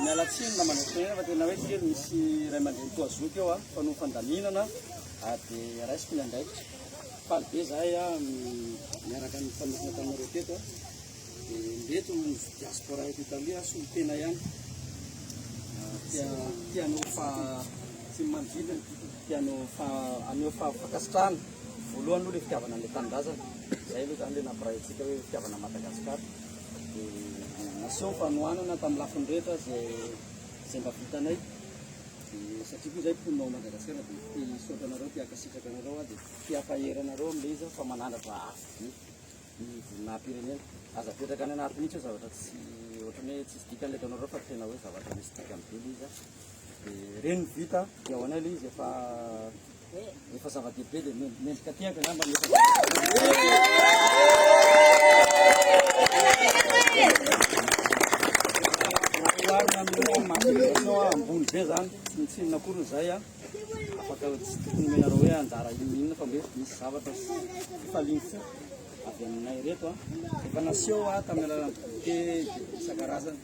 Miala tsiny mba mandrasena fa tena hoe kely misy ray aman-dreny toa zoky eo fa noho fandaminana ary dia raisiko ny andraikitra. Faly be zahay miaraka ny mpanorina taminareo teto dia mety ho diaspora eto Italia solotena ihany tia tia anao fa tsy manodidina tia anao fa aneo fa fankasitrahana voalohany aloha ilay fitiavana an'ilay tanindrazana izay aloha izany ilay nampiray antsika hoe fitiavana Madagasikara Dia naseho fanohanana tamin'ny lafiny rehetra izay izay mba vitanay. Dia satria koa izahay mponina ao Madagasikara dia te hisaotra anareo, te hankasitraka anareo aho dia te hampahery anareo amin'ilay izy aho fa manandratra avo be ny voninahi-pirenena. Aza apetraka any anaty mihitsy hoe zavatra tsy ohatran'ny hoe tsisy dikany ilay ataonareo fa tena hoe zavatra misy dikany be ilay izy an. Dia ireny no vita dia ho anay ilay izy efa Efa zava-dehibe dia mendrika tehaka angamba ny oharina amin'ny manifestation ambony be zany tsy ny tsinona akory izay a afaka tsy tokony menareo hoe anjara inona inona fa mbe misy zavatra falintsy avy aminay reto a efa naseho a tamin'ny alalan'ny goûter isan-karazany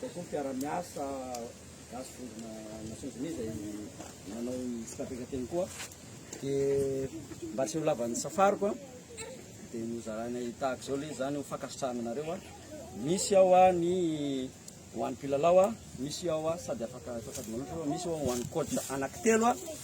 Dia koa mpiara-miasa gasy vondrona Nations Unies izay nanao ny fitrandrakan-teny koa. Dia mba tsy ho lavan'ny safariko an, dia nozaraina tahaka izao le izany ho fankasitrahana anareo an. Misy ao an ny ho an'ny mpilalao an, misy ao an sady afaka atao sady manotrona, misy ao ho an'ny coach anaky telo an.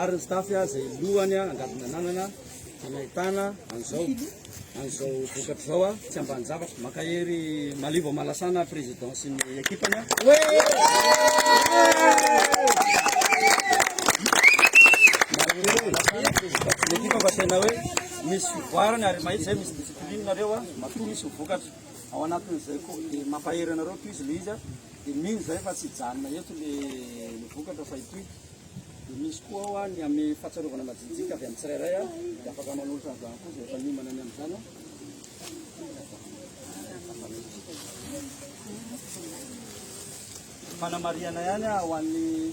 ary ny staff izay lohany angady nananana dia nahitana an'izao an'izao vokatra izao a tsy ambany zavatra mankahery malivo malasana président sy ny équipany équipe fa tena hoe misy fivoarana ary mahitsy zay misy discipline nareo a matoa misy vokatra ao anatin'izay koa dia mampahery anareo tohizo le izy a Dia mino izay fa tsy hijanona eto le ny vokatra fa hitohy. Dia misy koa ao ny amin'ny fahatsiarovana majinjika avy amin'ny tsirairay a, dia afaka manolotra an'izany koa izay efa niomana ny amin'izany a. Fanamarihana ihany a ho an'ny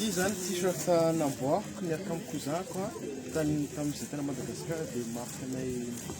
Ity izany t-shirt namboariko niaraka amin'ny cousin-ko an, tany tamin'ny Visite an'i Madagasikara dia marque anay.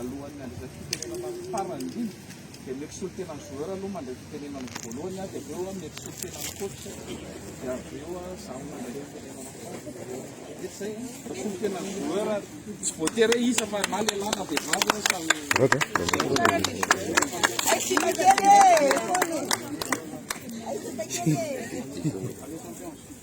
Alohan'ny handresy fitenenana ny farany indrindra dia mety solontena ny joueur aloha mandray fitenenana voalohany dia avy eo mety solontena ny coach dia avy eo za mandray fitenenana mety izay solontena ny joueur tsy voatery hoe iza fa na lehilahy na vehivavy hoe samy Thank you.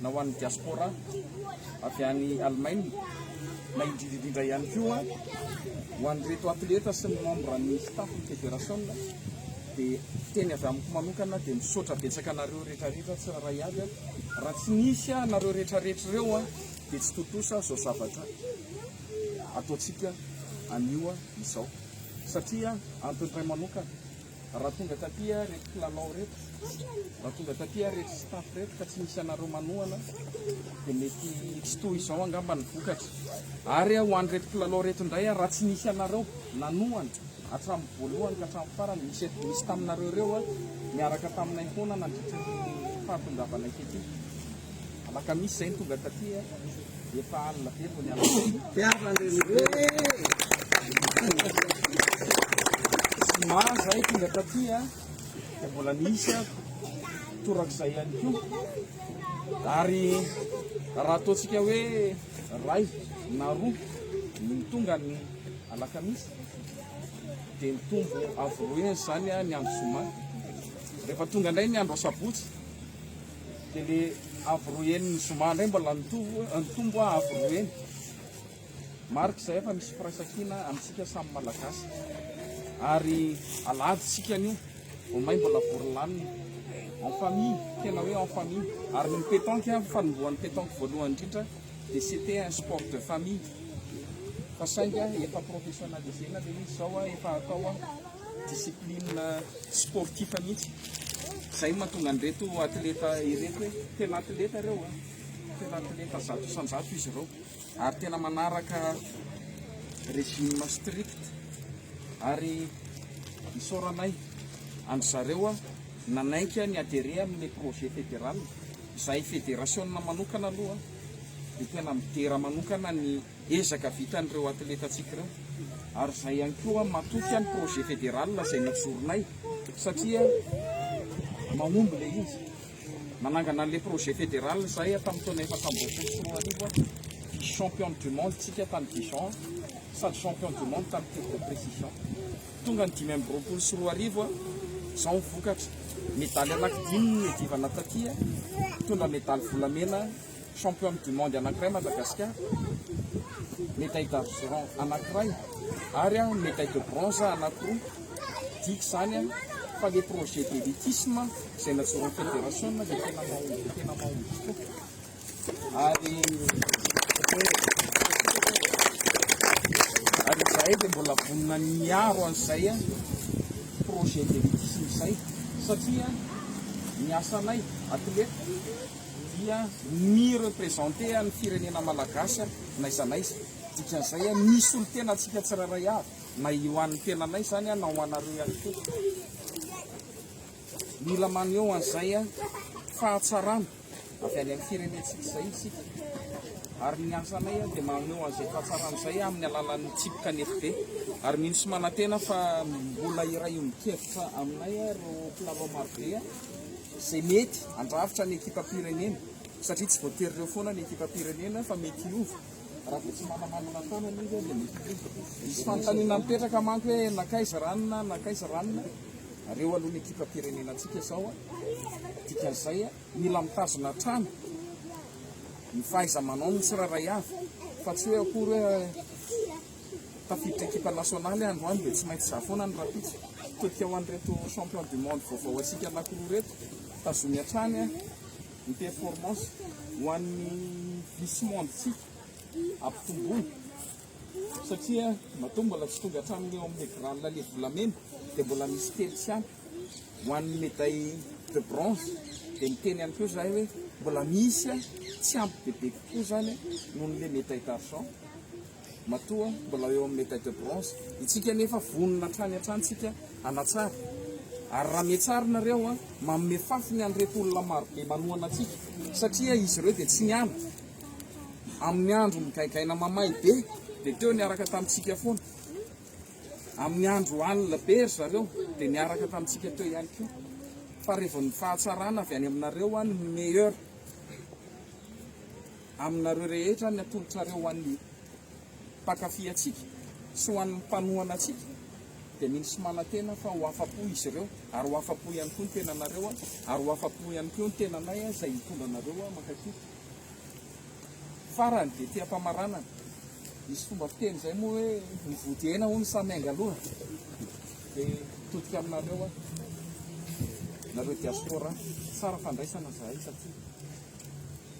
na ho an'ny diaspora avy any Allemagne, na indrindra indrindra ihany koa ho an'ireto atleta sy ny membre ny staff ny federasiona dia teny avy amiko manokana dia misaotra betsaka anareo rehetra rehetra tsy raha iaby a raha tsy nisy anareo rehetra rehetra ireo a dia tsy tontosa zao zavatra ataontsika anio izao satria antony iray manokana Raha tonga taty ary reto mpilalao reto, raha tonga taty ary reto staff reto ka tsy misy anareo manohana dia mety tsy toa izao angamba ny vokatra. Ary ho an'ireto mpilalao reto indray ary raha tsy nisy anareo nanohana hatramin'ny voalohany ka hatramin'ny farany, nisy eto nisy taminareo ireo miaraka taminay foana nandritra ny fahatongavanay tetika. Alakamisy izay ny tonga taty e, efa alina be vao niala teny. Tiava Zoma izay tonga taty e, dia mbola nisy a, torak'izay ihany koa. Ary raha ataontsika hoe ray na roa ny tonga ny alakamisy, dia mitombo avoroen'izany a ny andro zoma. Rehefa tonga indray ny andro asabotsy, Dia le avo roa heny ny zoma ndray mbola nitombo a avo roa heny. Marika izay fa misy firaisankina amintsika samy Malagasy. Ary aladintsika anio, vao may mbola vory lanina. En famille, tena hoe en famille. Ary ny pétanque avy fanombohan'ny pétanque voalohany indrindra dia c'était un sport de famille. Fa saingy efa professionnalisena le izy zao a, efa atao a. discipline sportif mihitsy izay no mahatonga an'ireto atleta ireto hoe tena atleta ireo a tena atleta zato isan-jato izy ireo ary tena manaraka régime strict ary isaoranay andry zareo a nanaiky ny adhéré amin'ny projet fédéral izay fédération manokana aloha dia tena midera manokana ny Ezaka vitan'ireo atletantsika ireo ary izay ihany koa matoky ny projet fédéral izay nojoronay satria mahomby ilay izy. Nanangana an'ilay projet fédéral izay tamin'ny taona efatra ambin'ny folo sy roa arivo aho. Vice championne du monde tsika tany Dijon sady champion du monde tany tir de précision. Tonga ny dimy amby roapolo sy roa arivo aho, izao ny vokatra. Medaly anaky dimy no niadivana taty, nitondra medaly volamena, Championne du monde anakiray Madagascar, medaille d'argent anakiray ary medaille de bronze anakiroa, midika izany fa le projet d'elitisme izay najoron'ny Fédération dia tena mahomby dia tena mahomby tokoa ary ary izahay dia mbola vonona ny miaro an'izay projet d'elitisme izay satria ny asanay athlète dia mi-representer an'ny firenena malagasy n'aiza n'aiza, dikan'izay mi solotena antsika tsirairay avy, na eo an'ny tenanay izany na ho anareo ihany koa. Mila maneho an'izay fahatsarana avy any amin'ny firenentsika izay isika, ary ny asanay dia maneho an'izay fahatsarana izay amin'ny alalan'ny tsipika ny FB, ary mino sy manantena fa mbola hiray ombin-kevitra aminay ireo mpilalao marobe. izay mety handrafitra ny ekipam-pirenena satria tsy voatery ireo foana ny ekipam-pirenena fa mety hiova raha vao tsy manamanana tanana izy dia mety hiova. Misy fanontaniana mipetraka manko hoe nankaiza ranona, nankaiza ranona? Reo aloha ny ekipam-pirenenantsika izao dikan'izay mila mitazona hatrany ny fahaiza-manaony ny tsirairay avy fa tsy hoe akory hoe tafiditra ekipa nasionaly androany dia tsy maintsy za foana ny rahampitso tetika ho an'ireto champion du monde vaovao antsika anankiroa ireto tazomy hatrany ny performance ho an'ny vice monde tsika ampitomboina satria matoa mbola tsy tonga hatramin'ny eo amin'ny grande lale volamena dia mbola misy telo sy ampy ho an'ny médaille de bronze dia miteny ihany koa zahay hoe mbola misy tsy ampy bebe kokoa zany noho n'le médaille d'argent Matoa mbola eo amin'ny medaille de bronze itsika nefa vonona hatrany hatrany tsika hanatsara ary raha mihatsara nareo a manome fafiny an'ireto olona marobe manohana antsika satria izy ireo dia tsy niala amin'ny andro migaigaina mamay be dia teo niaraka tamintsika foana amin'ny andro alina be ry zareo dia niaraka tamintsika teo ihany koa fa revon'ny fahatsarana avy any aminareo a ny meilleur Aminareo rehetra ny atolotrareo ho an'ny mpankafy antsika sy ho an'ny mpanohana antsika dia mino sy manantena fa ho afa-po izy ireo ary ho afa-po ihany koa ny tenanareo ary ho afa-po ihany koa ny tenanay izay hitondra anareo mankafy farany dia fiampamaranana misy fomba fiteny izay moa hoe ny vody hena hono samy angaloha dia todika aminareo aho nareo diaspora tsara fandraisana zahay satria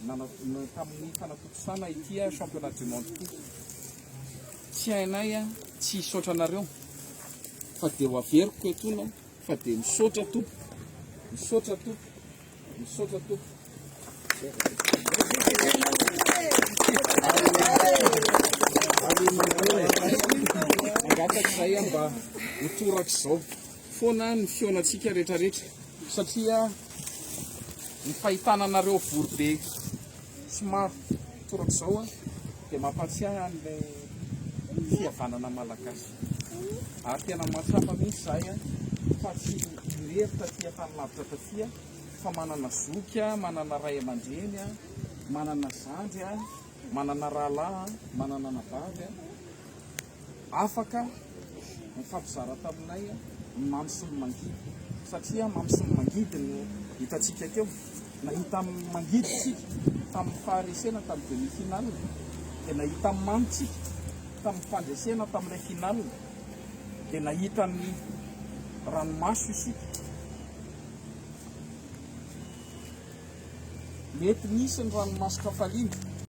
Nanadino tamin'ny fanatontosana ity championnat du monde ity. Tsy hainay tsy hisaotra anareo fa dia ho averiko etoana fa dia misaotra tompoko, misaotra tompoko, misaotra tompoko. Mangataka izahay mba ho torak'izao. foana ny fihaonantsika retraretra satria ny fahitana anareo vory be somary toraka zao dia mampatsiahy an'ilay fihavanana malagasy ary tena mahatsapa mihintsy zahay fa tsy irery taty tany lavitra taty fa manana zoky manana ray aman-dreny manana zandry Manana rahalahy an, manana anabavy an, afaka mifampizara taminay ny mamy sy ny mangidy, satria mamy sy ny mangidy no hitantsika teo, nahita mangidy isika tamin'ny faharesena tamin'ny demi finale, dia nahita mamy tsika tamin'ny fandresena tamin'ilay finale, dia nahita ny ranomaso isika. Mety nisy ny ranomaso-kafaliana.